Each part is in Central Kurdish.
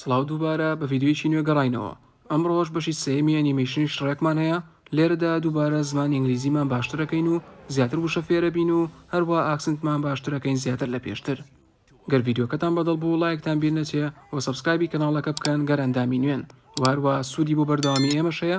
سڵاو دووبارە بە ڤیدیۆیەکی نوێ گەڕاینەوە ئەمڕۆش بەشی سێمی ئەنیمەیشنی شڕێکمان هەیە لێرەدا دووبارە زمان ئینگلیزیمان باشترەکەین و زیاتر وشە فێرەبین و هەروە ئاکسنتمان باشترەکەین زیاتر لە پێشتر گەر ڤیددیوکەتان بەدڵ بوو لایەکتان بیر نەچێ و سبسکایبی کەناڵەکە بکەن گەر ئەندامی نوێن واروا سوودی بۆ بەردەوامی ئێمەشەیە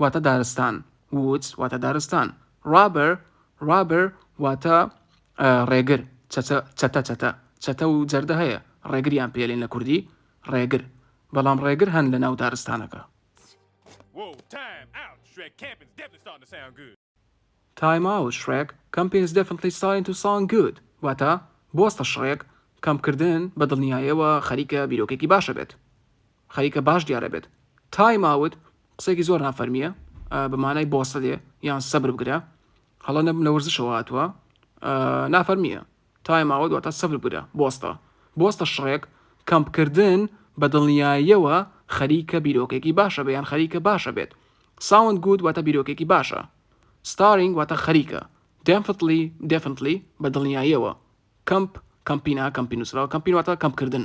واتە دارستان Woods واتە دارستان Robber Robber واتە ڕێگر چەتە چەتە چەتە چەتە و جەردە هەیە ڕێگریان پێ لێن لە کوردی ڕێگر بەڵام ڕێگر هەن لە ناو دارستانەکە. تایم ئاوت شڕێک کەمپینس دێفنتلی سایلنت و ساوند گوود واتە بۆستە شڕێک کەمپکردن بەدڵنیایەوە خەریکە بیرۆکەێکی باشە بێت خەریکە باش دیارە بێت تایم ئاوت قسێکی زۆر نافەرمیە بە مانای بۆستە دێ یان سەبر بگرە هەڵە نەبم لە وەرزشەوە هاتووە نافەرمیە تایم ئاوت واتە سفر بگرە، بۆستە، بۆستە شڕێک، کەمپ کردن، بە دڵنیاییەوە خەریکە بیرۆکەیەکی باشە بێ یان خەریکە باشە بێت ساوند گوود واتە بیرۆکەیەکی باشە ستارینگ واتە خەریکە دێمفتلی دێفنتلی بە دڵنیاییەوە کەمپ کەمپینا کەمپی نووسراوە کەمپین واتە کەمپ کردن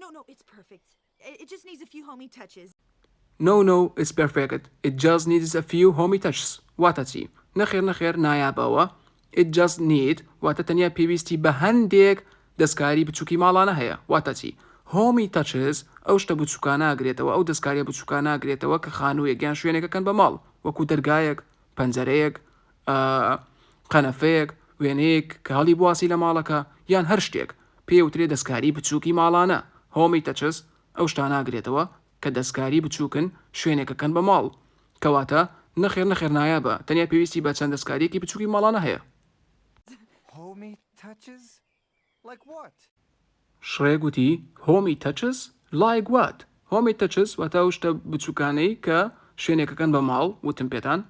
نۆ نۆ ئیتس پێرفێکت ئیت جاست نیدس ئەفیو هۆمی تەچس. نۆ نۆ ئیتس پێرفێکت ئیت جاست نیدس ئەفیو هۆمی تەچس واتە چی؟ نەخێر نەخێر نایابەوە ئیت جاست نید واتە تەنیا پێویستی بە هەندێک دەستکاری بچوکی ماڵانە هەیە واتە چی؟ هۆمی تەچس ئەو شتە بچوکانە ئەگرێتەوە ئەو دەستکاریە بچوکانە ئەگرێتەوە کە خانویەک یان شوێنێک ئەکەن بە ماڵ وەکو دەرگایەک پەنجەرەیەک ئا قەنەفەیەک، وێنەیەک کە هەڵی بواسی لە ماڵەکە یان هەر شتێک، پێی ئەوترێ دەستکاری بچووکی ماڵانە، Homey Touches، ئەو شتانە ئەگرێتەوە کە دەستکاری بچووکن شوێنێک ئەکەن بە ماڵ. کەواتە نەخێر نەخێر نایابە، تەنیا پێویستی بە چەند دەستکارییەکی بچووکی ماڵانە هەیە. Homey Touches؟ شڕێ گوتی، هۆمی تەچس؟ لایک وات؟ هۆمی تەچس واتە ئەو شتە بچووکانەی کە شوێنێک ئەکەن بە ماڵ، وتم پێتان؟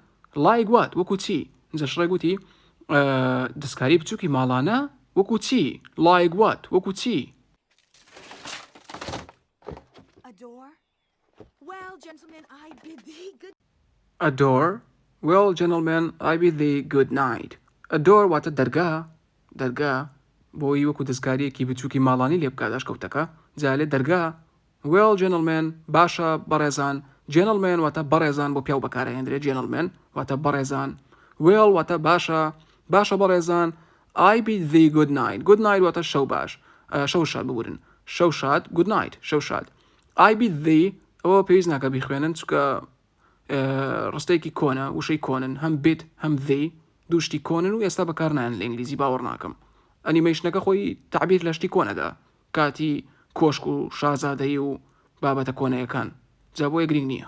لایک وات؟ وەکو چی؟ ئینجا شڕێ گوتی، دەستکاری بچووکی ماڵانە؟ وەکو چی؟ لایک وات؟ وەکو چی؟ وێڵ جێنتڵمێن ئای بی دی گود. Adore، وێڵ جێنڵمێن ئای بی دی گود نایت. Adore واتە دەرگا، دەرگا، بۆی وەکو دەستکارییەکی بچووکی ماڵانی لێ بکات ئەشکەوتەکە، جا لێ دەرگا، وێڵ جێنڵمێن، باشە بەڕێزان، جێنڵمێن واتە بەڕێزان بۆ پیاو بەکار ئەهێندرێت جێنڵمێن واتە بەڕێزان، وێڵ واتە باشە، باشە بەڕێزان، ئای بی دی گود نایت، گود نایت واتە شەو باش، شەو شاد، ببورن، شەو شاد، گود نایت، شەو شاد. ئای بی ذی ئەوە پێویست ناکە بیخوێنن چکە ڕستەیەکی کۆنە وشەی کۆنن هەم بێت هەم ذی دوشتی کۆنن و ئێستا بەکار نایەن لە ئینگلیزی باوەڕ ناکەم ئەنیمەیشنەکە خۆی تعبیر لە شتی کۆنەدا کاتی کۆشک و شازادەی و بابەتە کۆنەیەکان جا بۆیە گرنگ نییە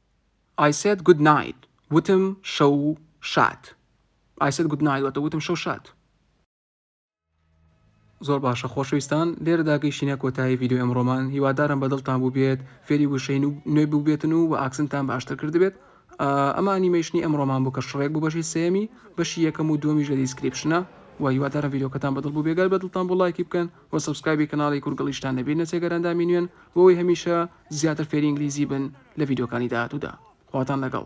I said good night وتم شەو شاد I said good night واتە وتم شەو شاد. زۆر باشە خۆشەویستان لێرەدا گەیشتینە کۆتایی ڤیددیو ئەمڕۆمان هیوادارم بە دڵتان بوو بێت فێری وشەین و نوێ بووبێتن و و ئاکسنتان باشتر کردبێت ئەمە ئەنیمەیشنی ئەمڕۆمان بوو کە شڕێک بوو بەشی سێمی بەشی یەکەم و دومیش لە دیسکریپشنە و هیوادارم ڤیددیوکەتان بەدڵ بوو بێگەر بە دڵتان بۆ لایکی بکەن و سبسکرایبی کەناڵی کورگڵیشتان نەبیرنە سێگەرەندامی نوێن بۆی هەمیشە زیاتر فێری ئینگلیزی بن لە ڤیدیۆکانی داهاتوودا خواتان لەگەڵ.